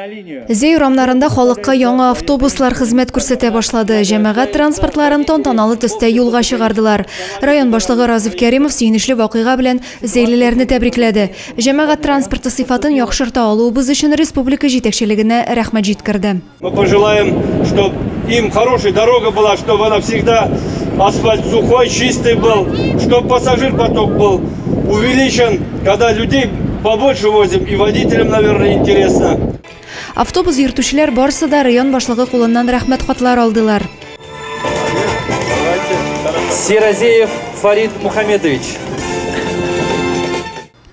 Зәй урамнарында халыкка яңа автобуслар хезмәт күрсәтә башлады. Җәмәгать транспортларын тантаналы төстә юлга чыгардылар. Район башлыгы Разиф Кәримов сөенечле вакыйга белән зәйлеләрне тәбрикләде. Җәмәгать транспорты сыйфатын яхшырта алуыбыз өчен республика җитәкчелегенә рәхмәт җиткерде. Мы пожелаем, чтобы им хорошая дорога была, чтобы она всегда асфальт сухой, чистый был, чтобы пассажир поток был увеличен. Когда людей побольше возим, и водителям, наверное, интересно. Автобус йөртүчеләр барысы да район башлыгы кулыннан рәхмәт хатлар алдылар. Серозеев Фарид Мухамедович.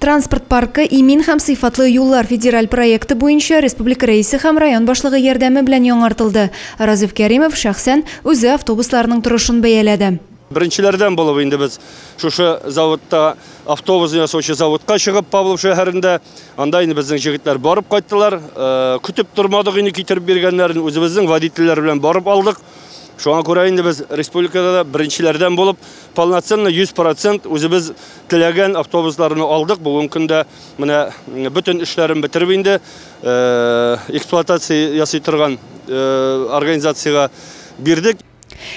Транспорт паркы имин һәм сыйфатлы юллар федераль проекты буенча республика рәисе һәм район башлыгы ярдәме белән яңартылды. Разиф Кәримов шәхсән үзе автобусларның торышын бәяләде. Беренчеләрдән булып инде без шушы заводта автобус ясаучы заводка чыгып Павлов шәһәрендә анда инде безнең җегетләр барып кайттылар. Э, көтеп тормадык инде китереп биргәннәрен үзебезнең водительләр белән барып алдык. Шуңа күрә инде без республикада да беренчеләрдән булып полноценно 100% үзебез теләгән автобусларны алдык. Бүген көндә менә бөтен эшләрен бетереп инде э, эксплуатация ясый торган э, организациягә бирдек.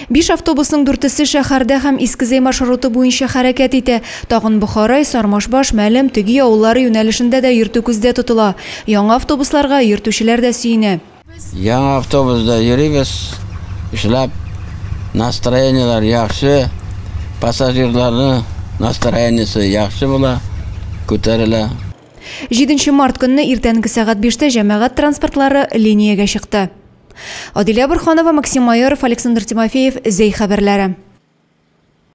Биш автобусның дүртесе шәһәрдә һәм Искезей маршруты буенча хәрәкәт итә. Тагын Бохарай, Сармашбаш, Мәлем, Төги авыллары юнәлешендә дә йөртү күздә тотыла. Яңа автобусларга йөртүчеләр дә сөенә. Яңа автобусда йөрибез, эшләп, настроениеләр яхшы, пассажирларның настроениесе яхшы була, күтәрелә. Җиденче март көнне иртәнге сәгать биштә җәмәгать транспортлары линиягә чыкты. Адилә Борханова, Максим Майоров, Александр Тимофеев, Зәй хәбәрләре.